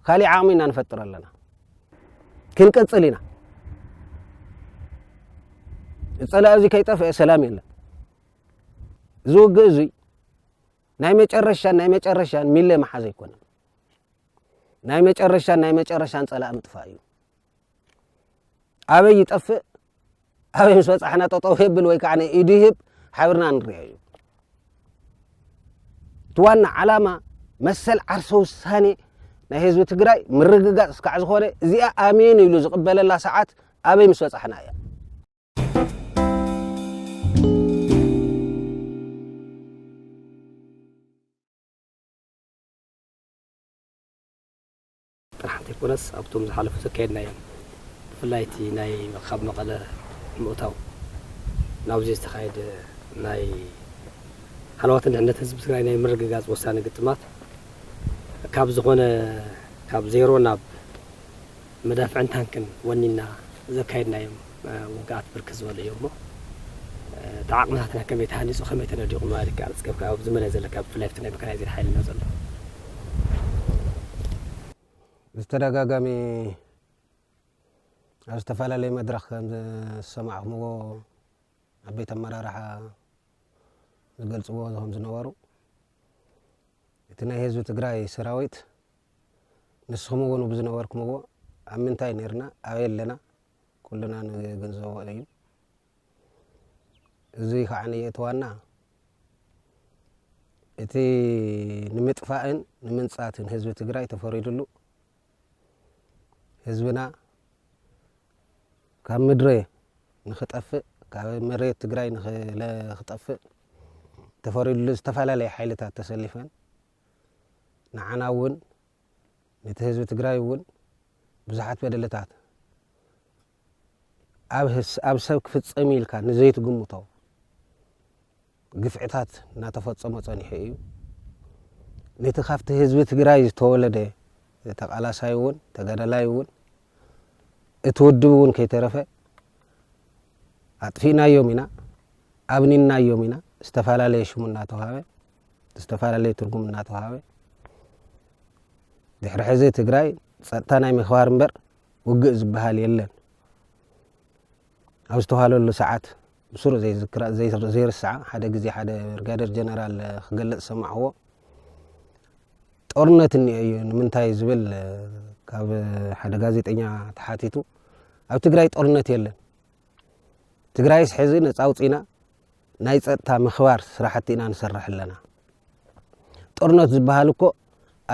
ካሊእ ዓቕሚ ኢና ንፈጥር ኣለና ክንቅፅል ኢና ፀላኢ እዚ ከይጠፍአ ሰላም የለን እዚ ውግእ እዙይ ናይ መጨረሻን ናይ መጨረሻን ሚለ መሓዝ ኣይኮነን ናይ መጨረሻን ናይ መጨረሻን ፀላኢ ምጥፋእ እዩ ኣበይ ይጠፍእ ኣበይ ምስ በጻሕና ጠጠው የብል ወይ ከዓ ኢዱ ይህብ ሓቢርና ንሪኦ እዩ እቲ ዋና ዓላማ መሰል ዓርሰ ውሳኔ ናይ ህዝቢ ትግራይ ምርግጋፅ እስካዕ ዝኾነ እዚኣ ኣሜን ኢሉ ዝቕበለላ ሰዓት ኣበይ ምስ በፃሕና እያ ጥራሕ እንተይኮነስ ኣብቶም ዝሓለፉ ዘካየድናዮም ብፍላይ እቲ ናይ ካብ መቐለ ምእታው ናብዙይ ዝተኻየደ ናይ ሃለዋትን ድሕነት ህዝቢ ትግራይ ናይ ምርግጋፅ ወሳኒ ግጥማት ካብ ዝኾነ ካብ ዜሮ ናብ መዳፍዕን ታንክን ወኒንና ዘካየድናዮም ውግኣት ብርክት ዝበሉ እዮም እሞ እቲ ዓቕምታትና ከመይ ተሃኒፁ ከመይ ተነዲቑ ምባል ይከኣል እስከ ካብቲ ኣብዚ መሬት ዘለካ ብፍላይ ኣብቲ ናይ መካናይዝድ ሓይልና ዘሎ ብተደጋጋሚ ኣብ ዝተፈላለዩ መድረኽ ከም ዝሰማዕኹምዎ ዓበይቲ ኣመራርሓ ዝገልፅዎ ከም ዝነበሩ እቲ ናይ ህዝቢ ትግራይ ሰራዊት ንስኹም እውን ብዝነበርኩምዎ ኣብ ምንታይ ነርና ኣበይ ኣለና ኩልና ንግንዘቦ እዩ እዚ ከዓ እቲ ዋና እቲ ንምጥፋእን ንምንፃትን ህዝቢ ትግራይ ተፈሪድሉ ህዝብና ካብ ምድረ ንክጠፍእ ካብ መሬት ትግራይ ንክጠፍእ ተፈሪድሉ ዝተፈላለዩ ሓይልታት ተሰሊፈን ንዓና እውን ነቲ ህዝቢ ትግራይ እውን ብዙሓት በደልታት ኣብ ሰብ ክፍፀም እዩ ኢልካ ንዘይትግምቶ ግፍዕታት እናተፈፀሞ ፀኒሑ እዩ ነቲ ካብቲ ህዝቢ ትግራይ ዝተወለደ ተቃላሳይ እውን ተጋዳላይ እውን እቲ ውድብ እውን ከይተረፈ ኣጥፊእናዮም ኢና ኣብኒናዮም ኢና ዝተፈላለየ ሽሙ እናተዋሃበ ዝተፈላለየ ትርጉም እናተዋሃበ ድሕሪ ሕዚ ትግራይ ፀጥታ ናይ ምክባር እምበር ውግእ ዝበሃል የለን ኣብ ዝተዋሃለሉ ሰዓት ብስሩ ዘይርስዓ ሓደ ግዜ ሓደ ብርጋደር ጀነራል ክገልፅ ሰማዕዎ ጦርነት እኒኦ እዩ ንምንታይ ዝብል ካብ ሓደ ጋዜጠኛ ተሓቲቱ ኣብ ትግራይ ጦርነት የለን ትግራይስ ሕዚ ነፃ ኣውፂና ናይ ጸጥታ ምክባር ስራሕቲ ኢና ንሰርሕ ኣለና ጦርነት ዝበሃል እኮ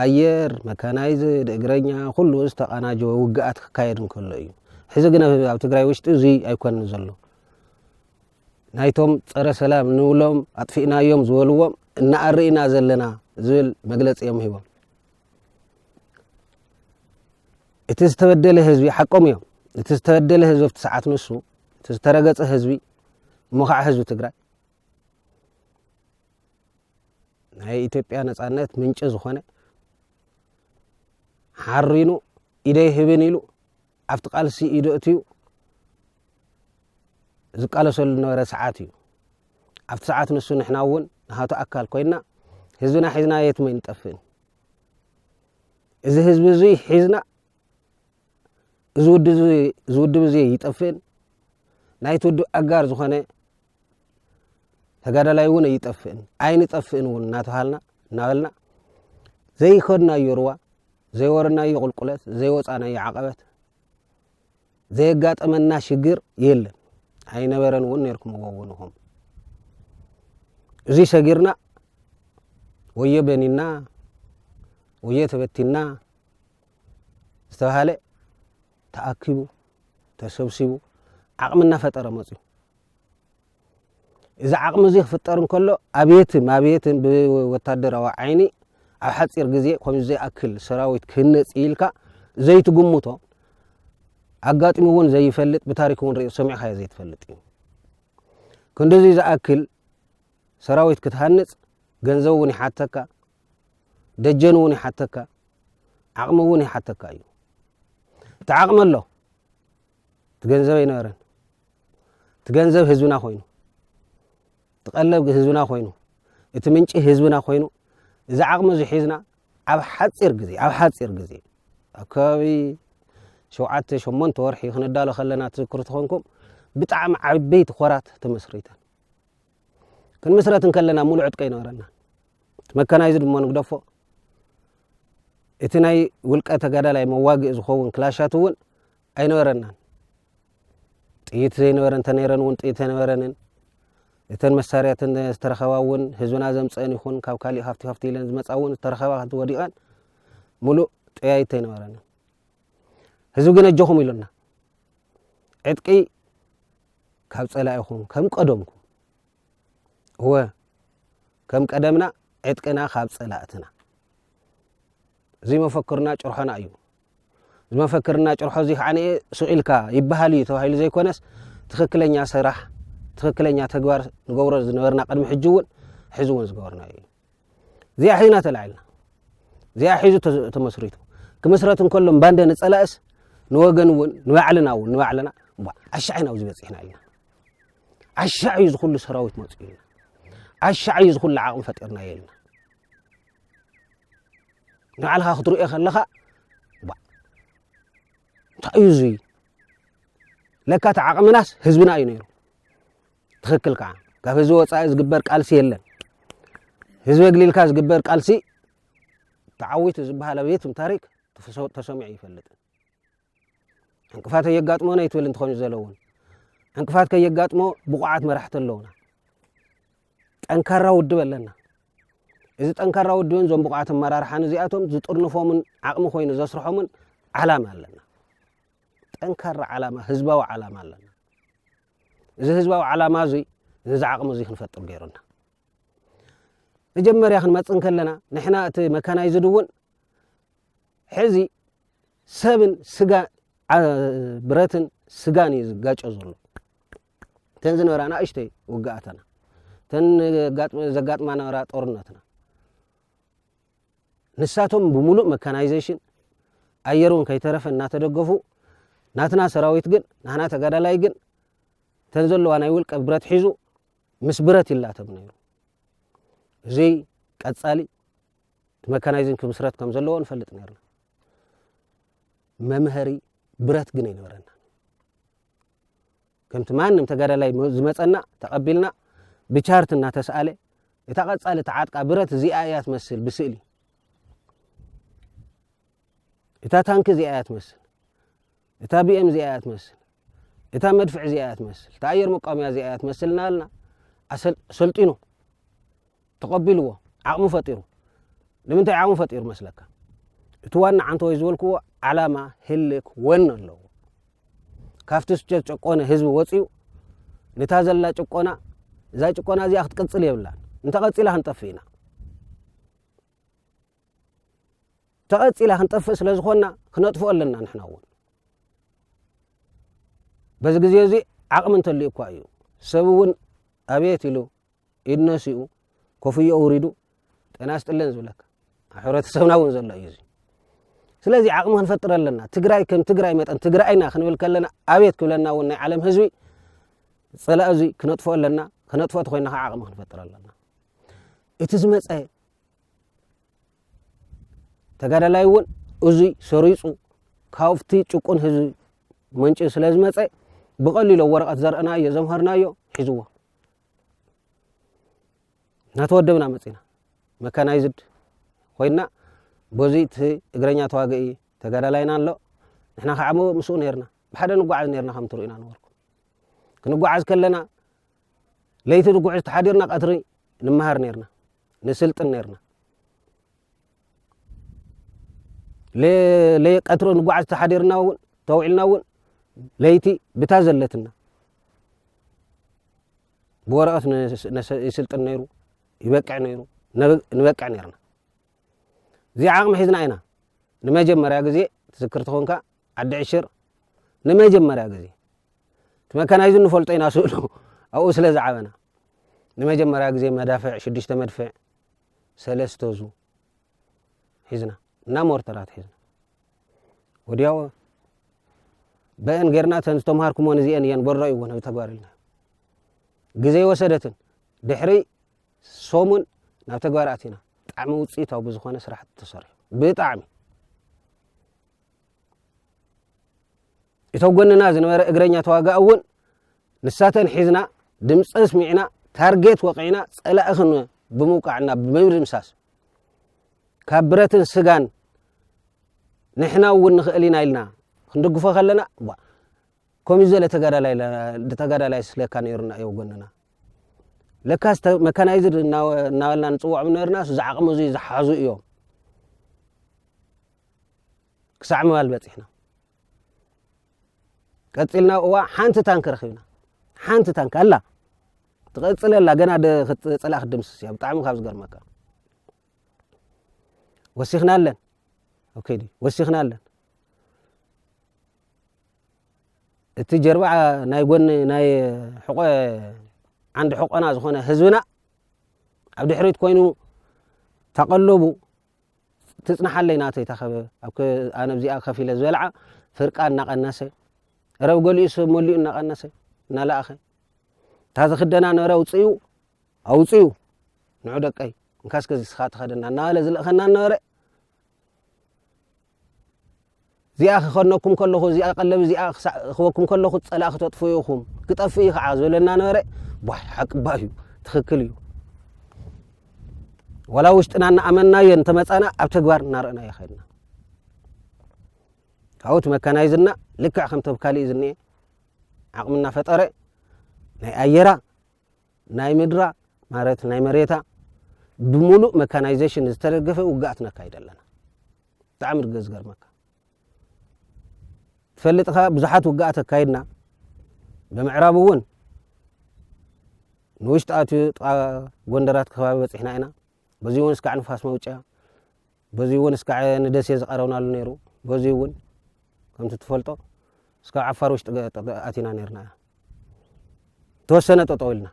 ኣየር መካናይዝድ እግረኛ ኩሉ ዝተቃናጀወ ውግኣት ክካየድ እንከሎ እዩ ሕዚ ግን ኣብ ትግራይ ውሽጢ እዙይ ኣይኮንን ዘሎ ናይቶም ፀረ ሰላም ንብሎም ኣጥፊእናዮም ዝበልዎም እናኣርእና ዘለና ዝብል መግለፂ እዮም ሂቦም እቲ ዝተበደለ ህዝቢ ሓቆም እዮም እቲ ዝተበደለ ህዝቢ ኣብቲ ሰዓት ንሱ እቲ ዝተረገፀ ህዝቢ እሞ ከዓ ህዝቢ ትግራይ ናይ ኢትዮጵያ ነፃነት ምንጪ ዝኾነ ሓሪኑ ኢደይ ህብን ኢሉ ኣብቲ ቃልሲ ኢዶ እትዩ ዝቃለሰሉ ዝነበረ ሰዓት እዩ ኣብቲ ሰዓት ንሱ ንሕና እውን ንሃቱ ኣካል ኮይና ህዝብና ሒዝና የትመይ ንጠፍእን እዚ ህዝቢ እዙይ ሒዝና እዚ ውድብ እዚ ይጠፍእን ናይቲ ውድብ ኣጋር ዝኾነ ተጋዳላይ እውን ኣይጠፍእን ኣይንጠፍእን እውን እናተሃልና እናበልና ዘይኸድናዮ ርዋ ዘይወረናዮ ቁልቁለት ዘይወፃናዮ ዓቐበት ዘየጋጠመና ሽግር የለን ኣይነበረን እውን ነርኩምዎ እውን ኹም እዙ ሰጊርና ወዮ በኒና ወዮ ተበቲና ዝተባህለ ተኣኪቡ ተሰብሲቡ ዓቕሚ እናፈጠረ መፅዩ እዚ ዓቕሚ እዚ ክፍጠር እንከሎ ኣብየትን ማብየትን ብወታደራዊ ዓይኒ ኣብ ሓፂር ግዜ ከምዚ ዘይኣክል ሰራዊት ክህነፅ ኢልካ ዘይትግምቶ ኣጋጢሙ እውን ዘይፈልጥ ብታሪክ እውን ሪኦ ሰሚዕካዮ ዘይትፈልጥ እዩ ክንዲዚ ዝኣክል ሰራዊት ክትሃንፅ ገንዘብ እውን ይሓተካ ደጀን እውን ይሓተካ ዓቕሚ እውን ይሓተካ እዩ እቲ ዓቕሚ ኣሎ እቲ ገንዘብ ኣይነበረን እቲ ገንዘብ ህዝብና ኮይኑ እቲ ቀለብ ህዝብና ኮይኑ እቲ ምንጪ ህዝብና ኮይኑ እዚ ዓቕሚ እዚ ሒዝና ኣብ ሓፂር ግዜ ኣብ ሓፂር ግዜ ኣብ ከባቢ ሸውዓተ ሸሞንተ ወርሒ ክንዳሎ ከለና ትዝክሩ ትኾንኩም ብጣዕሚ ዓበይቲ ኮራት ተመስሪተን ክንምስረት እንከለና ሙሉእ ዕጥቂ ኣይነበረና መካናይዝድ እሞ ንግደፎ እቲ ናይ ውልቀ ተጋዳላይ መዋግኢ ዝኸውን ክላሻት እውን ኣይነበረናን ጥይት ዘይነበረ እንተነይረን እውን ጥይት ኣይነበረንን እተን መሳርያትን ዝተረኸባ እውን ህዝብና ዘምፀአን ይኹን ካብ ካሊእ ሃፍቲ ሃፍቲ ኢለን ዝመፃ እውን ዝተረኸባ ከቲ ወዲቐን ሙሉእ ጠያይት ኣይነበረንን ህዝቢ ግን ኣጆኹም ኢሉና ዕጥቂ ካብ ጸላኢኹም ከም ቀደምኩም እወ ከም ቀደምና ዕጥቅና ካብ ጸላእትና እዚ መፈክርና ጭርሖና እዩ ዝመፈክርና ጭርሖ እዚ ከዓ ነ ስቂኢልካ ይበሃል እዩ ተባሂሉ ዘይኮነስ ትኽክለኛ ስራሕ ትኽክለኛ ተግባር ንገብሮ ዝነበርና ቅድሚ ሕጂ እውን ሕዚ እውን ዝገበርና እዩ እዚኣ ሒዝና ተላዒልና እዚኣ ሒዙ ተመስሪቱ ክምስረት እንከሎ ባንደ ንፀላእስ ንወገን እውን ንባዕልና እውን ንባዕልና ዓሻዕ ኢና ኣብዚ በፂሕና ኢልና ዓሻዕ እዩ ዝኩሉ ሰራዊት መፅኡ ኢልና ዓሻዕ እዩ ዝኩሉ ዓቕሚ ፈጢርና እየ ኢልና ንባዕልካ ክትርእዮ ከለካ እንታይ እዩ እዙይ ለካ እቲ ዓቕምናስ ህዝብና እዩ ነይሩ ትኽክል ከኣ ካብ ህዝቢ ወጻኢ ዝግበር ቃልሲ የለን። ህዝቢ ኣግሊልካ ዝግበር ቃልሲ ተዓዊቱ ዝበሃል ኣብ የትም ታሪክ ተሰሚዑ ኣይፈልጥን። ዕንቅፋት ኣየጋጥሞ ነይትብል እንትኾን ዘለውን ዕንቅፋት ከየጋጥሞ ብቑዓት መራሕቲ ኣለውና። ጠንካራ ውድብ ኣለና። እዚ ጠንካራ ውድብን እዞም ብቑዓት ኣመራርሓን እዚኣቶም ዝጥርንፎምን ዓቕሚ ኮይኑ ዘስርሖምን ዓላማ ኣለና። ጠንካራ ዓላማ፣ ህዝባዊ ዓላማ ኣለና። እዚ ህዝባዊ ዓላማ እዙይ ነዚ ዓቕሚ እዙይ ክንፈጥር ገይሩና መጀመርያ ክንመፅእ እንከለና ንሕና እቲ መካናይዝድ እውን ሕዚ ሰብን ስጋ ብረትን ስጋን እዩ ዝጋጮ ዘሎ እተን ዝነበራ ንእሽተይ ውግኣተና እተን ዘጋጥማ ነበራ ጦርነትና ንሳቶም ብሙሉእ መካናይዜሽን ኣየር ውን ከይተረፈ እናተደገፉ ናትና ሰራዊት ግን ናህና ተጋዳላይ ግን እተን ዘለዋ ናይ ውልቀ ብረት ሒዙ ምስ ብረት ይላተም ነይሩ። እዚ ቀፃሊ መካናይዝን ክምስረት ከም ዘለዎ ንፈልጥ ነርና። መምሀሪ ብረት ግን ኣይነበረና። ከምቲ ማንም ተጋዳላይ ዝመጸና ተቐቢልና ብቻርት እናተስኣለ እታ ቀጻሊ ተዓጥቃ ብረት እዚኣ እያ ትመስል ብስእሊ እታ ታንኪ እዚኣ እያ ትመስል እታ ቢኤም እዚኣ እያ ትመስል እታ መድፍዕ እዚኣ እያ ትመስል እታ ኣየር መቋሚያ እዚኣ እያ ትመስል እናበልና ሰልጢኑ ተቐቢሉዎ ዓቕሚ ፈጢሩ። ንምንታይ ዓቕሚ ፈጢሩ መስለካ? እቲ ዋና ዓንተወይ ዝበልኩዎ ዓላማ ህልክ ወን ኣለዎ። ካብቲ ዝተጨቆነ ህዝቢ ወጺኡ ንታ ዘላ ጭቆና እዛ ጭቆና እዚኣ ክትቅጽል የብላን እንተቐጺላ ክንጠፍእ ኢና ተቐጺላ ክንጠፍእ ስለ ዝኾንና ክነጥፍኦ ኣለና ንሕና እውን በዚ ግዜ እዚ ዓቕሚ እንተልዩ እኳ እዩ ሰብ እውን ኣቤት ኢሉ ኢድ ነሲኡ ኮፍዮ ኣውሪዱ ጤና ስጥልን ዝብለካ ኣብ ሕብረተሰብና እውን ዘሎ እዩ እዚ ስለዚ ዓቕሚ ክንፈጥር ኣለና ትግራይ ከም ትግራይ መጠን ትግራይና ክንብል ከለና ኣቤት ክብለና እውን ናይ ዓለም ህዝቢ ፀላእ እዚ ክነጥፎ ኣለና ክነጥፎ እቲ ኮይና ከዓ ዓቕሚ ክንፈጥር ኣለና እቲ ዝመፀ ተጋዳላይ እውን እዙይ ሰሪፁ ካብቲ ጭቁን ህዝቢ መንጭ ስለ ዝመፀ ብቐሊሎ ወረቐት ዘርእናዮ ዘምሃርናዮ ሒዝዎ እናተወደብና መፂና መካናይዝድ ኮይና በዚ እቲ እግረኛ ተዋግኢ ተጋዳላይና ኣሎ ንሕና ከዓ ምስኡ ነርና ብሓደ ንጓዓዝ ነርና ከም ትርእዩና ነበርኩ ክንጓዓዝ ከለና ለይቲ ንጉዕዝ ተሓዲርና ቀትሪ ንመሃር ነርና ንስልጥን ነርና ቀትሪ ንጓዓዝ ተሓዲርና እውን ተውዒልና እውን ለይቲ ብታ ዘለትና ብወረቐት ይስልጥን ነይሩ ይበቅዕ ነይሩ ንበቅዕ ነርና እዚ ዓቕሚ ሒዝና ኢና ንመጀመርያ ግዜ ትዝክር ትኾንካ ዓዲ ዕሽር ንመጀመርያ ግዜ እቲ መካናይዝ ንፈልጦ ኢና ስእሉ ኣብኡ ስለ ዝዓበና ንመጀመርያ ግዜ መዳፍዕ ሽዱሽተ መድፍዕ ሰለስተዙ ሒዝና እና ሞርተራት ሒዝና ወዲያው በአን ጌርና ተን ዝተምሃርኩሞን እዚአን እየን በሎ እዩ ውን ተግባር ኢልና ግዜ ወሰደትን ድሕሪ ሶሙን ናብ ተግባር ኣቲና ብጣዕሚ ውፅኢታዊ ብዝኾነ ስራሕቲ ተሰሪሑ ብጣዕሚ እቲ ኣብ ጎንና ዝንበረ እግረኛ ተዋጋኢ እውን ንሳተን ሒዝና ድምፂ ኣስሚዕና ታርጌት ወቒዕና ፀላኢ ክን ብምውቃዕ እና ብምድምሳስ ካብ ብረትን ስጋን ንሕና እውን ንኽእል ኢና ኢልና ክንድግፎ ከለና ባ ከምዚ ዘለ ተጋዳላይ ተጋዳላይ ስለካ ነይሩና እዩ ጎንና ለካስ መካናይዝድ እናበልና ንፅውዖም ነርናስ ዝዓቕሚ እዙይ ዝሓዙ እዮም ክሳዕ ምባል በጺሕና። ቀጺልና እዋ ሓንቲ ታንክ ረኺብና። ሓንቲ ታንክ ኣላ ትቐጽል ኣላ ገና ክትጸላእ ክትድምስስ እያ ብጣዕሚ ካብ ዝገርመካ ወሲኽና ኣለን ኣብ ከይዲ ወሲኽና ኣለን እቲ ጀርባ ናይ ጎኒ ናይ ሕቆ ዓንዲ ሕቆና ዝኾነ ህዝብና ኣብ ድሕሪት ኮይኑ ተቐለቡ ትጽናሓለይ ናተይ ተኸበ ኣብ ኣነ ኣብዚኣ ከፍ ኢለ ዝበልዓ ፍርቃ እናቐነሰ ረብ ገሊኡ ሰብ መሊኡ እናቐነሰ እናለኣኸ እታ ዝኽደና ነረ ኣውፅኡ ኣውፅኡ ንዑ ደቀይ እንካስከዚ ስኻ ተኸደና እናበለ ዝልእኸና እናበረ እዚኣ ኺኸነኩም ከለኹ፣ እዚኣ ቀለብ እዚኣ ኺሳዕኽበኩም ከለኹ፣ ጸላእ ክተጥፍኡ ኢኹም፣ ክጠፍእ እዩ ኸዓ ዝበለ እናነበረ፣ ቧሕ ሓቂ እባ እዩ፣ ትኽክል እዩ። ዋላ ውሽጥና እናኣመናዮ እንተመጻና ኣብ ተግባር እናረእናዮ ኸድና ካብኡ እቲ መካናይዝና ልክዕ ከምቲ ኣብ ካልእ ዝኒኤ ዓቕሚ እናፈጠረ ናይ ኣየራ ናይ ምድራ ማለት ናይ መሬታ ብሙሉእ መካናይዜሽን ዝተደገፈ ውግኣት ነካይድ ኣለና ብጣዕሚ ድገ ዝገርመካ ትፈልጥኻ ብዙሓት ውግኣት ኣካይድና ብምዕራብ እውን ንውሽጢ ኣትዩ ጥቃ ጎንደራት ከባቢ በፂሕና ኢና በዚ እውን እስካዕ ንፋስ መውፅያ በዙይ እውን እስካዕ ንደሴ ዝቐረብናሉ ነይሩ በዙይ እውን ከምቲ ትፈልጦ እስካብ ዓፋር ውሽጢ ኣቲና ነርና እያ ተወሰነ ጠጠው ኢልና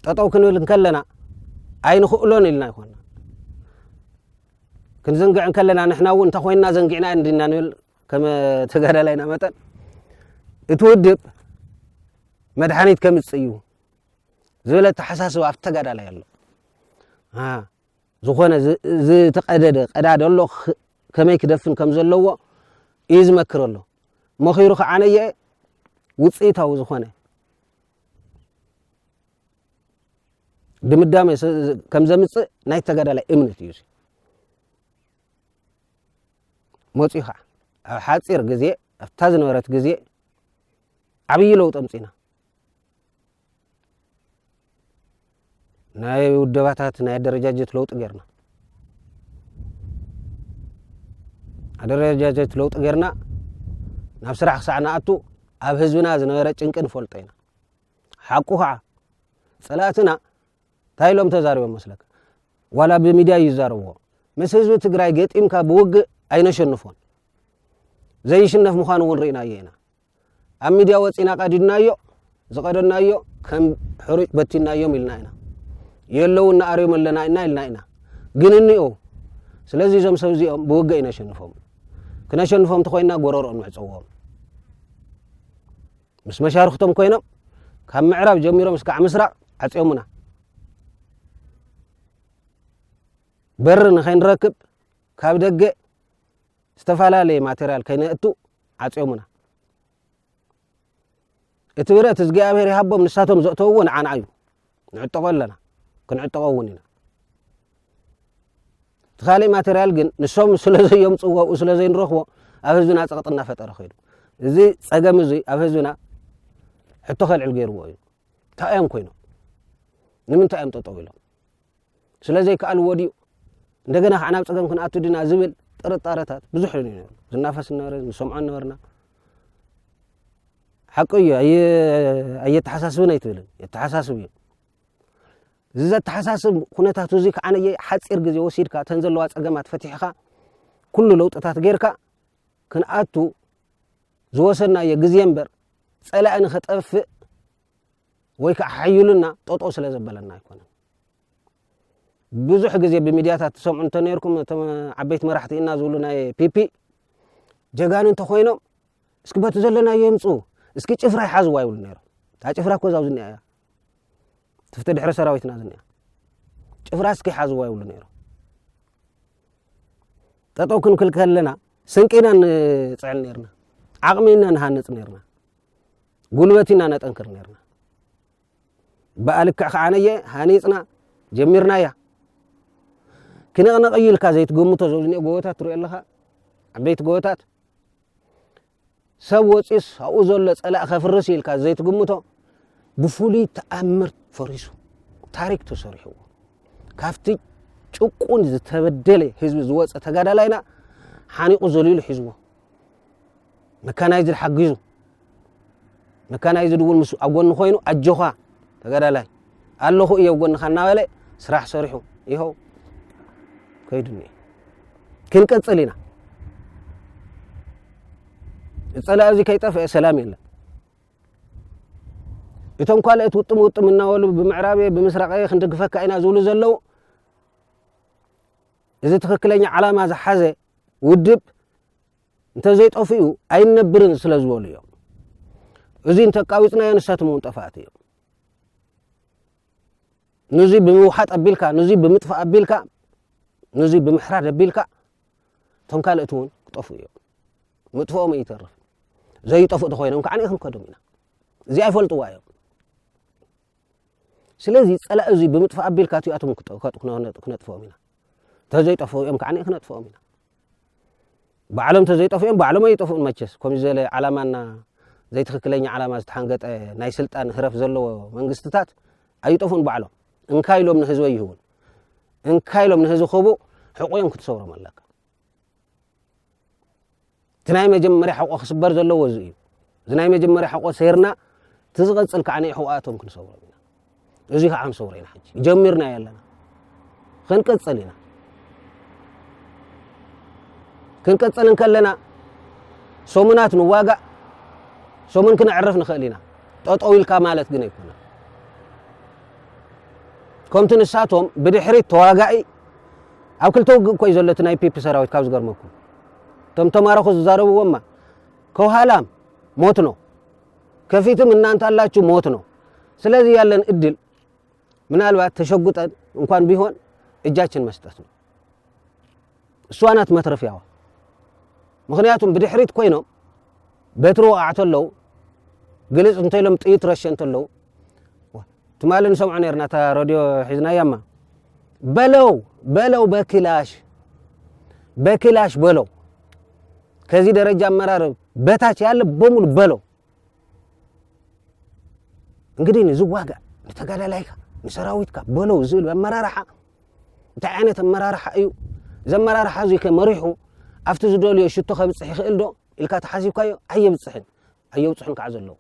ጠጠው ክንብል እንከለና ኣይንኽእሎን ኢልና ይኮና ክንዝንግዕ እንከለና ንሕና እውን እንተ ኮይንና ዘንጊዕና እንዲና ንብል ከም ተጋዳላይና መጠን እቲ ውድብ መድሓኒት ከምፅእ እዩ ዝበለ ተሓሳስብ ኣብቲ ተጋዳላይ ኣሎ ዝኾነ ዝተቀደደ ቀዳዲ ኣሎ ከመይ ክደፍን ከም ዘለዎ እዩ ዝመክር ኣሎ መኺሩ ከዓ ነየ ውፅኢታዊ ዝኾነ ድምዳመ ከም ዘምፅእ ናይ ተጋዳላይ እምነት እዩ መፅኡ ከዓ ኣብ ሓፂር ግዜ ኣብታ ዝነበረት ግዜ ዓብዪ ለውጢ ኣምፅና ናይ ውደባታት ናይ ኣደረጃጀት ለውጢ ጌርና ኣደረጃጀት ለውጢ ጌርና ናብ ስራሕ ክሳዕ ንኣቱ ኣብ ህዝብና ዝነበረ ጭንቂ ንፈልጦ ኢና ሓቁ ከዓ ፀላእትና እንታይ ኢሎም ተዛሪቦም መስለካ ዋላ ብሚድያ እዩ ዝዛረብዎ ምስ ህዝቢ ትግራይ ገጢምካ ብውግእ ኣይነሸንፎን ዘይሽነፍ ምዃኑ እውን ርኢናዮ ኢና ኣብ ሚድያ ወፂና ቀዲድናዮ ዝቀደናዮ ከም ሕሩጭ በቲናዮም ኢልና ኢና የለዉ እናኣርዮም ኣለና ኢና ኢልና ኢና ግን እኒኦ ስለዚ እዞም ሰብ እዚኦም ብውገ ይነሸንፎም ክነሸንፎም ተኮይና ጎረሮኦም ንዕፀዎም ምስ መሻርክቶም ኮይኖም ካብ ምዕራብ ጀሚሮም እስካዕ ምስራቅ ዓፅዮሙና በሪ ንኸይንረክብ ካብ ደገ ዝተፈላለየ ማቴርያል ከይነእቱ ዓጽዮሙና እቲ ብረት እዝጊኣብሄር ይሃቦም ንሳቶም ዘእተውዎ ንዓና እዩ ንዕጠቆ ኣለና ክንዕጠቆ እውን ኢና እቲ ካልእ ማቴርያል ግን ንሶም ስለ ዘየምፅዎ ኣብኡ ስለ ዘይንረኽቦ ኣብ ህዝብና ፀቕጢ እናፈጠረ ኮይኑ እዚ ፀገም እዙይ ኣብ ህዝብና ሕቶ ከልዕል ገይርዎ እዩ እንታይ እዮም ኮይኖም ንምንታይ እዮም ጠጠው ኢሎም ስለ ዘይከኣልዎ ድዩ እንደገና ከዓ ናብ ፀገም ክንኣቱ ድና ዝብል ጥርጣረታት ብዙሕ እዩ ነሩ ዝናፈስ ነበረ ንሰምዖ ነበርና ሓቂ እዩ ኣየተሓሳስብን ኣይትብልን የተሓሳስብ እዩ እዚ ዘተሓሳስብ ኩነታት እዙ ከዓ ነየ ሓፂር ግዜ ወሲድካ እተን ዘለዋ ፀገማት ፈትሕኻ ኩሉ ለውጥታት ጌይርካ ክንኣቱ ዝወሰድናዮ ግዜ እምበር ፀላእ ንኸጠፍእ ወይ ከዓ ሓዩልና ጠጠው ስለ ዘበለና ኣይኮነን። ብዙሕ ግዜ ብሚድያታት ትሰምዑ እንተነርኩም እቶም ዓበይቲ መራሕቲ ኢና ዝብሉ ናይ ፒፒ ጀጋኑ እንተኾይኖም እስኪ በቲ ዘለናዮ የምፁ እስኪ ጭፍራ ይሓዝዋ ይብሉ ነይሮም። እታ ጭፍራ እኮ እዛው ዝኒኣ እያ ትፍቲ ድሕሪ ሰራዊትና ዝኒኣ ጭፍራ እስኪ ይሓዝዋ ይብሉ ነይሮም። ጠጠው ክንክል ከለና ስንቂ ኢና ንፅዕን ነርና፣ ዓቕሚ ኢና ንሃንፅ ነርና። ጉልበት ኢና ነጠንክር ነርና ብኣ ልክዕ ከዓነየ ሃኒፅና ጀሚርናያ ክነቕነቕዩ ኢልካ ዘይትገምቶ ዘዝኒኦ ጎቦታት ትሪኦ ኣለኻ ዓበይቲ ጎቦታት ሰብ ወፂስ ኣብኡ ዘሎ ፀላእ ከፍርስ ኢልካ ዘይትግምቶ ብፍሉይ ተኣምር ፈሪሱ ታሪክ ተሰሪሕዎ ካብቲ ጭቁን ዝተበደለ ህዝቢ ዝወፀ ተጋዳላይና ሓኒቑ ዘሊሉ ሒዝዎ መካናይዝድ ሓጊዙ መካናይዝድ እውን ምስ ኣብ ጎኒ ኮይኑ ኣጆኻ ተጋዳላይ ኣለኹ እየ ኣብ ጎንኻ እናበለ ስራሕ ሰሪሑ ይኸው ከይዱ እኒአ ክንቅፅል ኢና ፀላኢ እዚ ከይጠፍአ ሰላም የለን እቶም ካልኦት ውጥም ውጥም እናበሉ ብምዕራብ ብምስራቅ ክንድግፈካ ኢና ዝብሉ ዘለው እዚ ትኽክለኛ ዓላማ ዝሓዘ ውድብ እንተዘይጠፍኡ ኣይንነብርን ስለዝበሉ እዮም። እዚ እንተቃዊፅናዮ ንሳቶም እውን ጠፋእቲ እዮም። ንዙ ብምውሓጥ ኣቢልካ ንዙ ብምጥፋእ ኣቢልካ ንዙ ብምሕራድ ኣቢልካ እቶም ካልእት እውን ክጠፍ እዮም ምጥፍኦም ይተርፍ ዘይጠፍእ ተኮይኖም ካዓ ክንከዶም ኢና እዚ ኣይፈልጥዋ እዮም ስለዚ ጸላኢ እዚ ብምጥፋእ ኣቢልካ እቲኣቶም ክነጥፍኦም ኢና ተዘይጠፍኡ እዮም ከዓ ክነጥፍኦም ኢና ባዕሎም ተዘይጠፍኡ እዮም ባዕሎም ኣይጠፍኡን መቸስ ከምዚ ዘለ ዓላማና ዘይትክክለኛ ዓላማ ዝተሓንገጠ ናይ ስልጣን ህረፍ ዘለዎ መንግስትታት ኣይጠፍኡን ባዕሎም እንካ ኢሎም ንህዝቢ ኣይህቡን እንካ ኢሎም ንህዝቢ ክቡ ሕቑ እዮም ክትሰብሮም ኣለካ እቲ ናይ መጀመርያ ሕቆ ክስበር ዘለዎ እዚ እዩ እዚ ናይ መጀመርያ ሕቆ ሰይርና እቲ ዝቐፅል ከዓ ንሕቆኣቶም ክንሰብሮም ኢና እዚ ከዓ ንሰብሮ ኢና ሕጂ ጀሚርና ኣለና ክንቅፅል ኢና ክንቅፅል እንከለና ሰሙናት ንዋጋእ ሰሙን ክነዕርፍ ንኽእል ኢና ጠጠው ኢልካ ማለት ግን ኣይኮነ ከምቲ ንሳቶም ብድሕሪት ተዋጋኢ ኣብ ክልተ ውግእ እኮ እዩ ዘሎ እቲ ናይ ፒፒ ሰራዊት ካብ ዝገርመኩም እቶም ተማረኹ ዝዛረብዎማ ከውሃላም ሞት ነው ከፊትም እናንተ አላችሁ ሞት ነው ስለዚህ ያለን እድል ምናልባት ተሸጉጠን እንኳን ቢሆን እጃችን መስጠት ነው እሷ ናት መትረፊያዋ ምክንያቱም ብድሕሪት ኮይኖም በትሪ ወቃዕ ተለው ግልፅ እንተኢሎም ጥይት ረሸ እንተለው ትማሊ ንሰምዖ ነርና እታ ረድዮ ሒዝናያ እማ በለው በለው በክላሽ በክላሽ በለው ከዚህ ደረጃ አመራር በታች ያለ በሙሉ በለው። እንግዲህ ንዝዋጋ ንተጋዳላይካ ንሰራዊትካ በለው ዝብል ኣመራርሓ እንታይ ዓይነት ኣመራርሓ እዩ? እዚ ኣመራርሓ እዚ ከ መሪሑ ኣብቲ ዝደልዮ ሽቶ ከብፅሕ ይኽእል ዶ ኢልካ ተሓሲብካዮ ኣየብፅሕን ኣየብፅሑን ከዓ ዘለዉ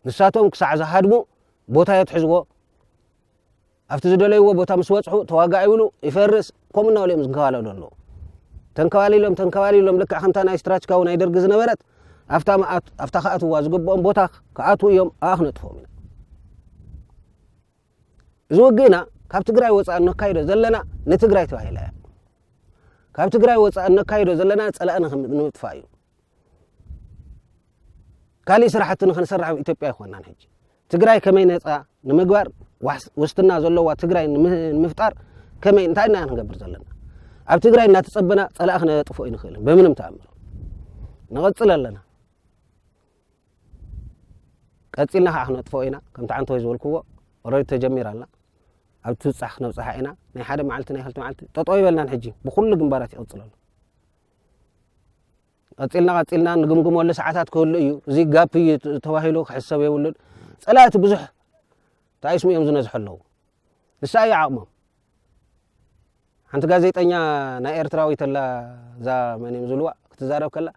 ንሳቶም ክሳዕ ዝሃድሙ ቦታ የትሕዝዎ፣ ኣብቲ ዝደለይዎ ቦታ ምስ በጽሑ ተዋጋእ ይብሉ፣ ይፈርስ፣ ከምኡ እናበሉ እዮም ዝንከባለሉ ኣለዉ። ተንከባሊሎም ተንከባሊሎም ልክዕ ከምታ ናይ ስትራችካዊ ናይ ደርጊ ዝነበረት ኣብታ መኣት ኣብታ ክኣትዋ ዝግብኦም ቦታ ክኣትዉ እዮም ኣብኣ ክነጥፎም ኢና። እዚ ውግእና ካብ ትግራይ ወፃእ እነካይዶ ዘለና ንትግራይ ተባሂላ እያ። ካብ ትግራይ ወፃእ እነካይዶ ዘለና ፀላእና ንምጥፋእ እዩ። ካሊእ ስራሕቲ ንክንሰርሕ ኣብ ኢትዮጵያ ኣይኮናን ሕጂ ትግራይ ከመይ ነፃ ንምግባር ውስትና ዘለዋ ትግራይ ንምፍጣር ከመይ እንታይ ኢና ክንገብር ዘለና ኣብ ትግራይ እናተፀበና ፀላእ ክነጥፎ ይንክእልን ብምንም ተኣምር ንቐፅል ኣለና ቀፂልና ከዓ ክነጥፎ ኢና ከምቲ ዓንተ ወይ ዝበልክዎ ኦረዲ ተጀሚር ኣላ ኣብ ትብፃሕ ክነብፅሓ ኢና ናይ ሓደ መዓልቲ ናይ ክልተ መዓልቲ ጠጠው ይበልናን ሕጂ ብኩሉ ግንባራት ይቕፅል ኣሎ ቀጺልና ቀጺልና ንግምግመሉ ሰዓታት ክህሉ እዩ እዚ ጋፕ እዩ ተባሂሉ ክሕሰብ የብሉን ጸላእቲ ብዙሕ እንታይ ስሙ እዮም ዝነዝሑ ኣለዉ ንሳ እዩ ዓቕሞም ሓንቲ ጋዜጠኛ ናይ ኤርትራዊት ኣላ እዛ መን እዮም ዝብልዋ ክትዛረብ ከላ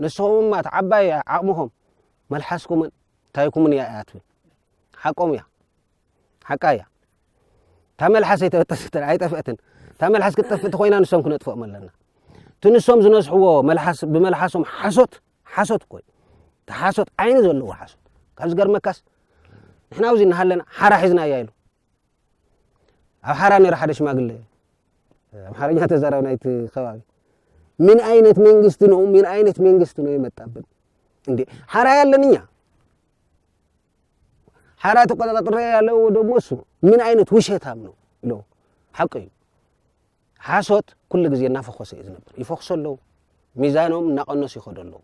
ንስኹም እማ እቲ ዓባይ ዓቕምኹም መልሓስኩምን ታይኩምን እያ እያ ትብል ሓቆም እያ ሓቃ እያ እታ መልሓስ ኣይተበጠሰት ኣይጠፍአትን እታ መልሓስ ክትጠፍእ እንተኮይና ንሶም ክነጥፍኦም ኣለና እቲ ንሶም ዝነስሕዎ መልሓስ ብመልሓሶም ሓሶት ሓሶት እኮ እዩ እቲ ሓሶት ዓይኒ ዘለዎ ሓሶት ካብ ዝገርመካስ ንሕና ኣብዚ እናሃለና ሓራ ሒዝና እያ ኢሉ ኣብ ሓራ ነይረ ሓደ ሽማግለ ኣምሓርኛ ተዛራቢ ናይቲ ከባቢ ምን አይነት መንግስት ነው ምን አይነት መንግስት ነው የመጣብን እንዴ ሓራ ያለን እኛ ሓራ ተቆጣጥሬ ያለው ደግሞ እሱ ምን ዓይነት ውሸታም ነው ሎ ሓቂ እዩ ሓሶት ኩሉ ግዜ እናፈኮሰ እዩ ዝነብር ይፈክሶ ኣለው ሚዛኖም እናቀነሱ ይኸዶ ኣለው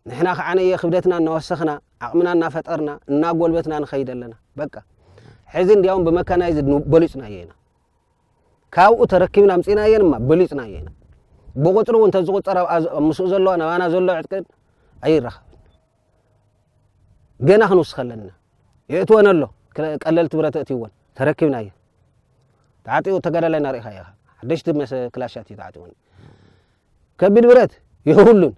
ንሕና ከዓ ነየ ክብደትና እናወሰኽና ዓቕምና እናፈጠርና እናጎልበትና ንኸይድ ኣለና በቃ ሕዚ እንዲያውም ብመካናይዝ በሊፅናዮ ኢና ካብኡ ተረኪብና ምፅናየን እማ በሊፅናዮ ኢና ብቁፅሪ እውን ተዝቁፀር ምስኡ ዘለዋ ናባና ዘሎ ዕጥቅን ኣይረኸብ ገና ክንውስኸ ኣለና የእትወን ኣሎ ቀለልቲ ብረት ኣእትይወን ተረኪብና እየ ተዓጢቑ ተጋዳላይ ናርኢኻ ኢኻ ሓደሽቲ መሰ ክላሻት እዩ ተዓጢቑን ከቢድ ብረት የብሉን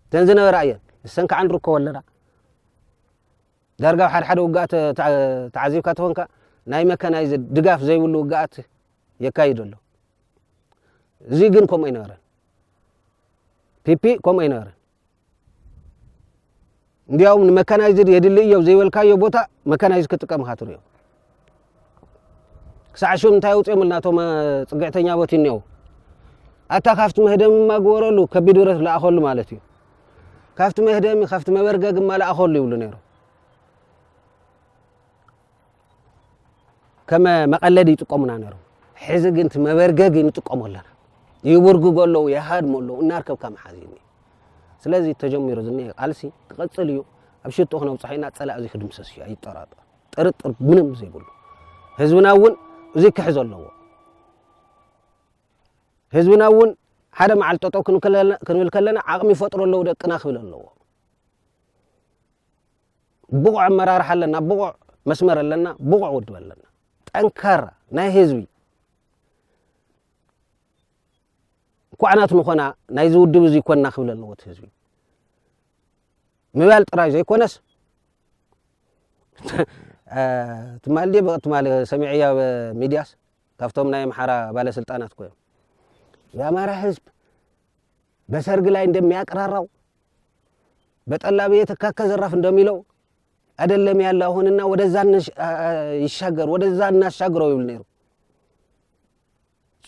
እተን ዝነበራ እየን ንሰን ከዓ ንርከቦ ኣለና ዳርጋ ኣብ ሓደ ሓደ ውግኣት ተዓዚብካ ትኾንካ ናይ መካናይዝ ድጋፍ ዘይብሉ ውግኣት የካይድ ኣሎ እዚ ግን ከምኡ ኣይነበረን ፒፒ ከምኡ ኣይነበረን እንዲያውም ንመካናይዝድ የድሊ እዮ ዘይበልካዮ ቦታ መካናይዝ ክጥቀም ኢኻ ትሪኦ ክሳዕ ሽም እንታይ ኣውፅኦምልና እቶም ፅግዕተኛ ቦት እኒኦ ኣታ ካብቲ መህደሚ ማግበረሉ ከቢድ ብረት ለኣኸሉ ማለት እዩ ካብቲ መህደሚ ካብቲ መበርገግ ማለኣኸሉ ይብሉ ነይሩ ከመ መቐለዲ ይጥቀሙና ነሮም ሕዚ ግን እቲ መበርገጊ ንጥቀሞ ኣለና ይብርግጎ ኣለዉ የሃድሞ ኣለዉ እናርከብካ መሓዝ እዩ ስለዚ ተጀሚሩ ዝኒ ቃልሲ ክቐፅል እዩ ኣብ ሽጡ ክነብፅሖ ኢና ፀላእ እዚ ክድምሰስ እዩ ኣይጠራጠር ጥርጥር ምንም ዘይብሉ ህዝብና እውን እዚ ክሕዞ ኣለዎ ህዝብና እውን ሓደ መዓል ጠጠው ክንብል ከለና ዓቕሚ ይፈጥሮ ኣለዉ ደቅና ክብል ኣለዎ ብቑዕ ኣመራርሓ ኣለና፣ ብቑዕ መስመር ኣለና፣ ብቑዕ ውድብ ኣለና። ጠንካራ ናይ ህዝቢ እንኳዕናት ንኾና ናይዚ ውድብ እዚ ኮንና ክብል ኣለዎ እቲ ህዝቢ ምባል ጥራይ ዘይኮነስ ትማሊ ድ ትማሊ ሰሚዐያ ሚድያስ ካብቶም ናይ ኣምሓራ ባለስልጣናት ኮዮም የኣማራ ህዝብ በሰርግ ላይ እንደሚያቅራራው በጠላ ቤት እካከ ዘራፍ እንደሚለው አይደለም ያለ አሁንና ወደዛ ይሻገር ወደዛ እናሻግረው ይብል ነይሩ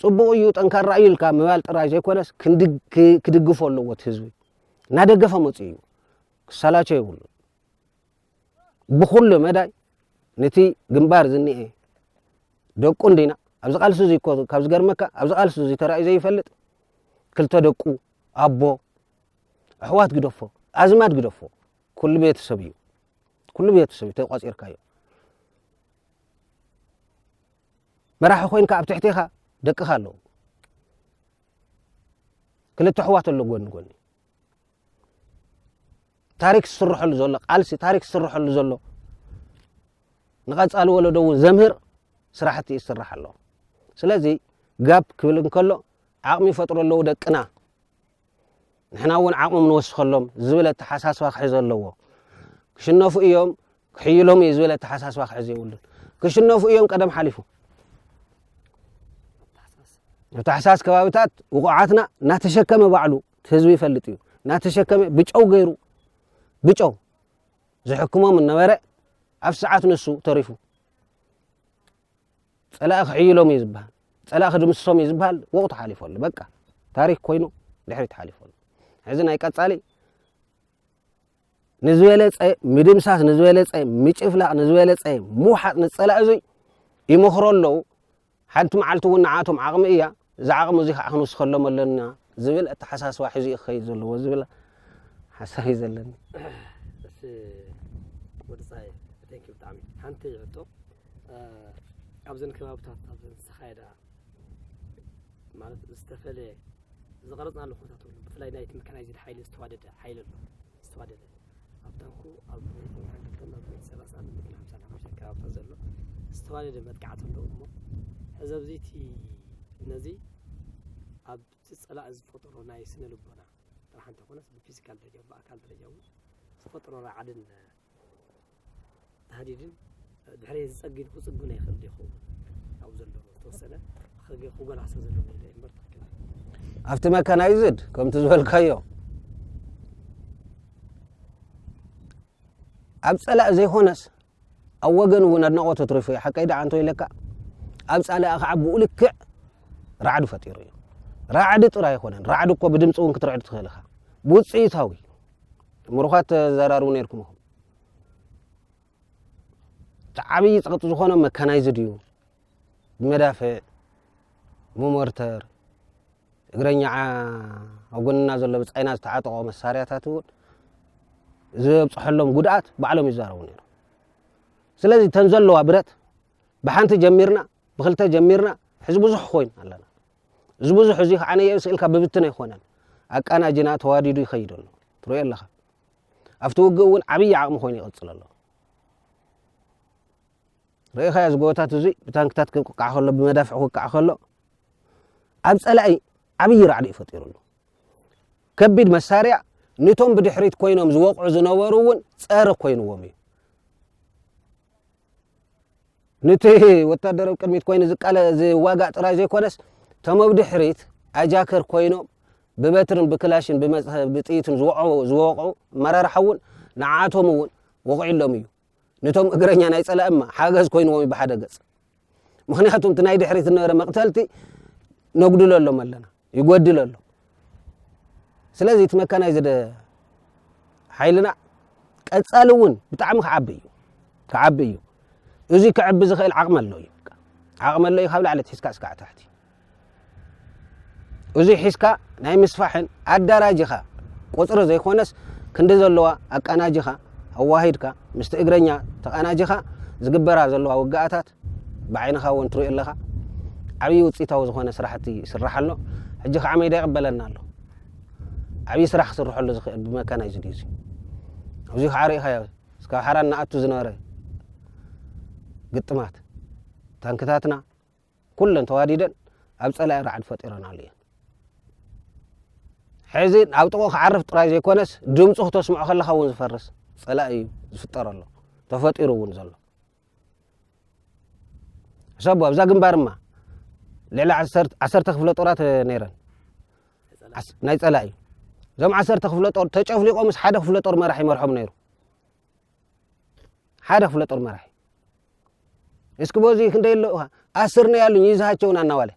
ፅቡቅ እዩ ጠንካራ እዩ ኢልካ ምባል ጥራይ ዘይኮነስ ክድግፎ ኣለዎ እቲ ህዝቢ እናደገፈ መፁ እዩ ክሰላቸ ይብሉ ብኩሉ መዳይ ነቲ ግንባር ዝኒኤ ደቁ እንዲና ኣብዚ ቃልሲ እዚ ካብ ዝገርመካ ኣብዚ ቃልሲ እዚ ተራእዩ ዘይፈልጥ ክልተ ደቁ ኣቦ ኣሕዋት ግደፎ ኣዝማድ ግደፎ ኩሉ ቤተሰብ እዩ ኩሉ ቤተሰብ እዩ ተቋፂርካዮ መራሒ ኮይንካ ኣብ ትሕቴኻ ደቅኻ ኣለዉ ክልተ ኣሕዋት ኣሎ ጎኒ ጎኒ ታሪክ ዝስረሐሉ ዘሎ ቃልሲ ታሪክ ዝስረሐሉ ዘሎ ንቐፃሊ ወለዶ እውን ዘምህር ስራሕቲ እዩ ዝስራሕ ኣሎ ስለዚ ጋብ ክብል እንከሎ ዓቕሚ ይፈጥሩ ኣለዉ ደቅና ንሕና እውን ዓቕሞም ንወስኸሎም ዝብል ኣተሓሳስባ ክሕዘ ኣለዎ ክሽነፉ እዮም ክሕይሎም እየ ዝበለ ኣተሓሳስባ ክሕዙ የብሉን። ክሽነፉ እዮም ቀደም ሓሊፉ። ኣብ ታሕሳስ ከባቢታት ውቑዓትና እናተሸከመ ባዕሉ እቲ ህዝቢ ይፈልጥ እዩ እናተሸከመ ብጨው ገይሩ ብጨው ዝሕክሞም እነበረ ኣብ ሰዓት ንሱ ተሪፉ ፀላኢ ክሕይሎም እዩ ዝበሃል ፀላኢ ክድምስሶም እዩ ዝበሃል ወቕቱ ሓሊፎ ኣሎ በቃ ታሪክ ኮይኑ ድሕሪት ሓሊፎ ኣሎ ሕዚ ናይ ቀፃሊ ንዝበለፀ ምድምሳስ ንዝበለፀ ምጭፍላቕ ንዝበለፀ ምውሓጥ ንፀላእ እዙይ ይመኽሮ ኣለዉ ሓንቲ መዓልቲ እውን ንዓቶም ዓቕሚ እያ እዚ ዓቕሚ እዚ ከዓ ክንውስኸሎም ኣለና ዝብል ኣተሓሳስባ ሒዙ እዩ ክኸይድ ዘለዎ ዝብል ሓሳብ እዩ ዘለኒ ወድፃይ ተንኪ ብጣዕሚ ሓንቲ ሕቶ ኣብዘን ከባብታት ኣብዘን ዝተኻየዳ ማለት ዝተፈለየ ዝቐረጽናሉ ኩነታት ኣሎ። ብፍላይ ናይቲ መካናይዝድ ሓይሊ ዝተዋደደ ሓይሊ ኣሎ ዝተዋደደ ኣብ ታንኩ ኣብ ቁምራን ክልተን ኣብ ሚእቲ ሰላሳን ሚእቲ ሓምሳን ሓሙሽተ ኣከባብታ ዘሎ ዝተዋደደ መጥቃዕቲ ኣሎ እሞ ሕዚ ኣብዚ እቲ ነዚ ኣብቲ ጸላእ ዝፈጠሮ ናይ ስነ ልቦና ጥራሕ እንተኾነስ ብፊዚካል ደረጃ ብኣካል ደረጃ እውን ዝፈጠሮ ራዕድን ተሃዲድን ድሕሪ ዝጸጊድ ክጽግኖ ይኽእል ይኸውን ኣብ ዘለዎ ዝተወሰነ ክጎላሶ ዘለዎ ኢለ እምበር ትክክል ኣብቲ መካናይዝድ ከምቲ ዝበልካዮ ኣብ ጸላእ ዘይኮነስ ኣብ ወገን እውን ኣድናቆት ትሪፉ እዩ ሓቀይ ደዓንቶ ኢለካ ኣብ ጻላእ ከዓ ብኡ ልክዕ ራዕዲ ፈጢሩ እዩ ራዕዲ ጥራይ ኣይኮነን ራዕዲ እኮ ብድምፂ እውን ክትርዕድ ትኽእል ኢኻ ብውፅኢታዊ ምሩኻት ተዘራርቡ ነርኩም ኢኹም እቲ ዓብዪ ፀቕጢ ዝኾነ መካናይዝድ እዩ ብመዳፍዕ ብሞርተር እግረኛ ኣብ ጎንና ዘሎ ብፃይና ዝተዓጠቆ መሳርያታት እውን ዘብፅሐሎም ጉድኣት ባዕሎም ይዛረቡ ነይሩ ስለዚ እተን ዘለዋ ብረት ብሓንቲ ጀሚርና ብክልተ ጀሚርና ሕዚ ብዙሕ ኮይን ኣለና እዚ ብዙሕ እዚ ከዓ ነየእስ ኢልካ ብብትን ኣይኮነን ኣቃናጅና ተዋዲዱ ይኸይድ ኣሎ ትሪኦ ኣለኻ ኣብቲ ውግእ እውን ዓብይ ዓቕሚ ኮይኑ ይቐፅል ኣሎ ርእኻዮ እዚ ጎቦታት እዚ ብታንክታት ክቃዕ ከሎ ብመዳፍዕ ክቃዕ ከሎ ኣብ ፀላኢ ዓብዪ ራዕዲ እዩ ፈጢሩሉ ከቢድ መሳርያ ንቶም ብድሕሪት ኮይኖም ዝወቕዑ ዝነበሩ እውን ፀረ ኮይንዎም እዩ ኑቲ ወታደር ብ ቅድሚት ኮይኑ ዝዋጋእ ጥራይ ዘይኮነስ ቶም ብ ድሕሪት ኣጃከር ኮይኖም ብበትርን ብክላሽን ብጥይትን ዝወቕዑ ኣመራርሓ እውን ንዓኣቶም እውን ወቒዕሎም እዩ ንቶም እግረኛ ናይ ፀላኢ እማ ሓገዝ ኮይንዎም ዩ ብሓደ ገፅ ምክንያቱ እቲ ናይ ድሕሪት ዝነበረ መቕተልቲ ነጉድለሎም ኣለና ይጎድል ኣሎ ስለዚ እቲ መካናይዝድ ሓይልና ቀፃሊ እውን ብጣዕሚ ክዓቢ እዩ ክዓቢ እዩ እዚ ክዕቢ ዝኽእል ዓቕሚ ኣሎ እዩ ዓቕሚ ኣሎ እዩ ካብ ላዕሊ ትሒዝካ እስካዕ ታሕቲ እዚ ሒዝካ ናይ ምስፋሕን ኣዳራጅኻ ቁፅሪ ዘይኮነስ ክንዲ ዘለዋ ኣቀናጅኻ ኣዋሂድካ ምስቲ እግረኛ ተቐናጅኻ ዝግበራ ዘለዋ ውግኣታት ብዓይንኻ እውን ትሪኦ ኣለኻ ዓብዪ ውፅኢታዊ ዝኾነ ስራሕቲ ይስራሕ ኣሎ ሕጂ ከዓ ሜዳ ይቕበለና ኣሎ ዓብዪ ስራሕ ክስርሐሉ ዝኽእል ብመካናይዝድ እዩ ኣብዚ ከዓ ርኢኻዮ እስካብ ሓራ እናኣቱ ዝነበረ ግጥማት ታንክታትና ኩለን ተዋዲደን ኣብ ፀላኢ ራዕዲ ፈጢረናሉ እየን ሕዚ ኣብ ጥቑ ክዓርፍ ጥራይ ዘይኮነስ ድምፁ ክተስምዖ ከለካ እውን ዝፈርስ ፀላኢ እዩ ዝፍጠረሎ ተፈጢሩ እውን ዘሎ ሕሰቡ ኣብዛ ግንባርማ ልዕሊ ዓሰርተ ክፍለ ጦራት ነይረን ናይ ፀላኢ እዞም ዓሰርተ ክፍለ ጦር ተጨፍሊቆምስ ሓደ ክፍለ ጦር መራሒ መርሖም ነይሩ ሓደ ክፍለ ጦር መራሒ እስኪ በዚ ክንደይ ኣሎ ኣስር ነው ያሉኝ ይዛሃቸውን አናዋለ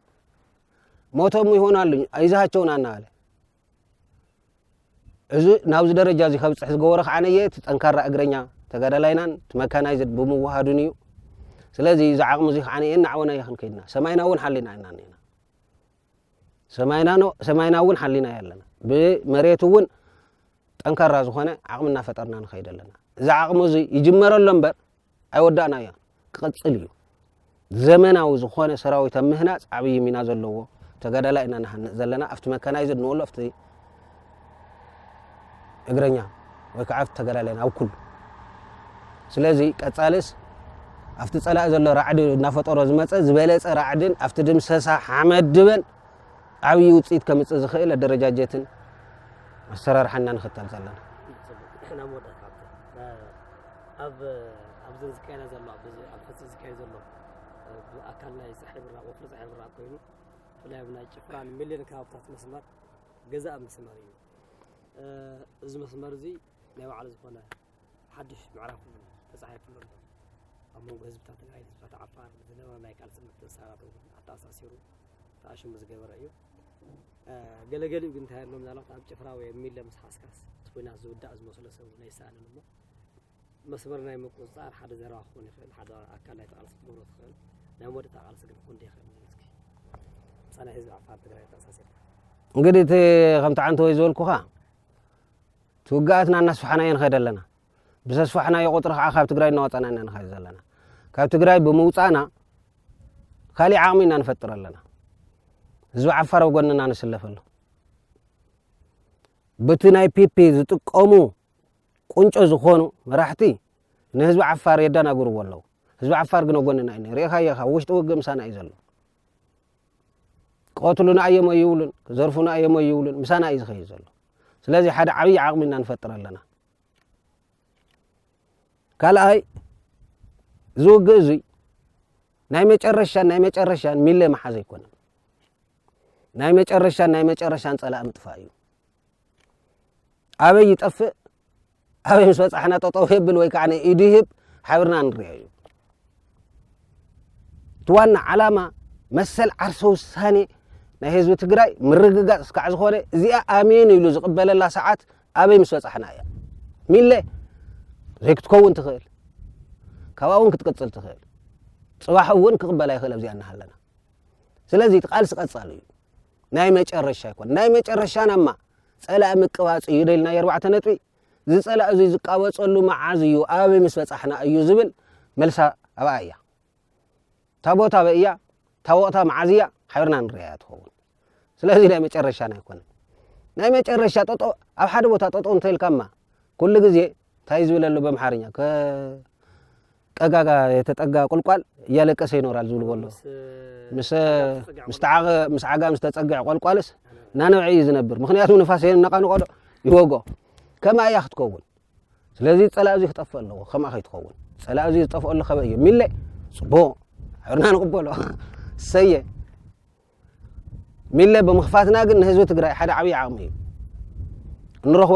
ሞቶም ይሆናሉኝ ይዛሃቸውን አናዋለ እዚ ናብዚ ደረጃ እዚ ከብፅሕ ዝገበሮ ከዓ ነየ እቲ ጠንካራ እግረኛ ተጋዳላይናን እቲ መካናይዝድ ብምውሃዱን እዩ ስለዚ እዚ ዓቕሚ እዚ ከዓ እናዕወና እየ ክንከይድና ሰማይና እውን ሓሊና ኢና እኒና ሰማይና ሰማይና እውን ሓሊና እየ ኣለና ብመሬት እውን ጠንካራ ዝኾነ ዓቕሚ እናፈጠርና ንኸይድ ኣለና እዚ ዓቕሚ እዚ ይጅመረሎ እምበር ኣይወዳእናዮን ክቕጽል እዩ። ዘመናዊ ዝኾነ ሰራዊት ኣብ ምህናጽ ዓብዪ ሚና ዘለዎ ተጋዳላይ ኢና ንሃንጽ ዘለና ኣብቲ መካናይዝድ ንወሎ ኣብቲ እግረኛ ወይ ከዓ ኣብቲ ተጋዳላይ ኣብ ኩሉ ስለዚ ቀጻልስ ኣብቲ ጸላኢ ዘሎ ራዕዲ እናፈጠሮ ዝመፀ ዝበለፀ ራዕድን ኣብቲ ድምሰሳ ሓመድ ድበን ዓብዪ ውፅኢት ከምፅእ ዝኽእል ኣደረጃጀትን ኣሰራርሓና ንኽተል ዘለና ኣብ ኣብዘን ዝካየዳ ዘሎ ኣብ ሕዚ ዝካየድ ዘሎ ኣካል ናይ ፀሓይ ብራቕ ወፍሪ ፀሓይ ብራቕ ኮይኑ ብፍላይ ኣብ ናይ ጭፍራን ሚሊዮን ከባብታት መስመር ገዛእ መስመር እዩ እዚ መስመር እዚ ናይ ባዕሉ ዝኾነ ሓድሽ ምዕራፍ ተፃሒፍሉ ኣሎ ኣብ መንጎ ህዝብታት ትግራይ ህዝብታት ዓፋር ዝነበረ ናይ ቃልሲ ምትእስሳራት እውን ኣተኣሳሲሩ ተኣሽሙ ዝገበረ እዩ ገለገሊኡ ግን እንታይ ኣሎ ምናልባት ኣብ ጭፍራ ወይ ኣብ ሚለ ምስ ሓስካስ እቲ ኩናት ዝውዳእ ዝመስሎ ሰብ ናይ ይሰኣንን እሞ መስመር ናይ ምቁፅፃር ሓደ ዘረባ ክኾን ይኽእል፣ ሓደ ኣካል ናይቲ ቃልሲ ክትገብሮ ትኽእል፣ ናይ መወዳእታ ቃልሲ ግን ክኾን ይኽእል እስኪ ፀናይ ህዝቢ ዓፋር ትግራይ ተኣሳሲርካ እንግዲህ እቲ ከምቲ ዓንተ ወይ ዝበልኩኻ እቲ ውግኣትና እናስፋሕናዮ ንኸይድ ኣለና ብዘስፋሕናዮ ቁፅሪ ከዓ ካብ ትግራይ እናወፃና ኢና ንኸይድ ዘለና ካብ ትግራይ ብምውፃእና ካሊእ ዓቕሚ ኢና ንፈጥር ኣለና ህዝቢ ዓፋር ኣብ ጎንና ንስለፍ ኣሎ በቲ ናይ ፒፒ ዝጥቀሙ ቁንጮ ዝኾኑ መራሕቲ ንህዝቢ ዓፋር የዳናግርዎ ኣለው ህዝቢ ዓፋር ግን ኣጎንና እዩ ሪኢኻዮ ኢኻ ውሽጢ ውግእ ምሳና እዩ ዘሎ ቀትሉና እዮም ኣይብሉን ዘርፉና እዮም ኣይብሉን ምሳና እዩ ዝኸይድ ዘሎ ስለዚ ሓደ ዓብዪ ዓቕሚ ኢና ንፈጥር ኣለና ካልኣይ እዚ ውግእ እዙይ ናይ መጨረሻን ናይ መጨረሻን ሚለ መሓዝ ኣይኮነን ናይ መጨረሻን ናይ መጨረሻን ፀላእ ምጥፋእ እዩ ኣበይ ይጠፍእ ኣበይ ምስ በፃሕና ጠጠው የብል ወይ ከዓ ኢዱ ይህብ ሓብርና ንሪኦ እዩ እቲ ዋና ዓላማ መሰል ዓርሰ ውሳኔ ናይ ህዝቢ ትግራይ ምርግጋፅ እስካዕ ዝኾነ እዚኣ ኣሜን ኢሉ ዝቕበለላ ሰዓት ኣበይ ምስ በፃሕና እያ ሚለ ዘይክትከውን ትኽእል ካብኣ እውን ክትቅፅል ትኽእል ፅባሕ እውን ክቕበላ ይኽእል ኣብዚኣ እናሃለና ስለዚ እቲ ቃልሲ ቀፃሉ እዩ ናይ መጨረሻ ኣይኮነ ናይ መጨረሻ ናማ ጸላኢ ምቅባጽ እዩ ደልና የርባዕተ ነጥቢ እዚ ጸላኢ እዙይ ዝቃበጸሉ መዓዝ እዩ ኣበይ ምስ በጻሕና እዩ ዝብል መልሳ ኣብኣ እያ እታ ቦታ ኣበይ እያ እታ ወቕታ መዓዝ እያ ሓቢርና ንርያ እያ ትኸውን ስለዚ ናይ መጨረሻና ኣይኮነን ናይ መጨረሻ ጠጦ ኣብ ሓደ ቦታ ጠጦ እንተልካማ ኩሉ ግዜ ታይ ዝብል ኣሎ በምሓርኛ ከቀጋጋ የተጠጋ ቁልቋል እያለቀሰ ይኖራል ዝብልዎ ኣሎ ምስ ዓጋም ዝተፀግዐ ቆልቋልስ ናነብዐ እዩ ዝነብር ምክንያቱ ንፋስ የነቃንቆዶ ይወጎ ከምኣ እያ ክትከውን ስለዚ ፀላእ እዙ ክጠፍእ ኣለዎ ከምኣ ከይትኸውን ፀላእ እዙ ዝጠፍኦሉ ከበ እዩ ሚለ ፅቡቅ ሕርና ንቕበሎ ሰየ ሚለ ብምክፋትና ግን ንህዝቢ ትግራይ ሓደ ዓብዪ ዓቅሚ እዩ ንረክቦ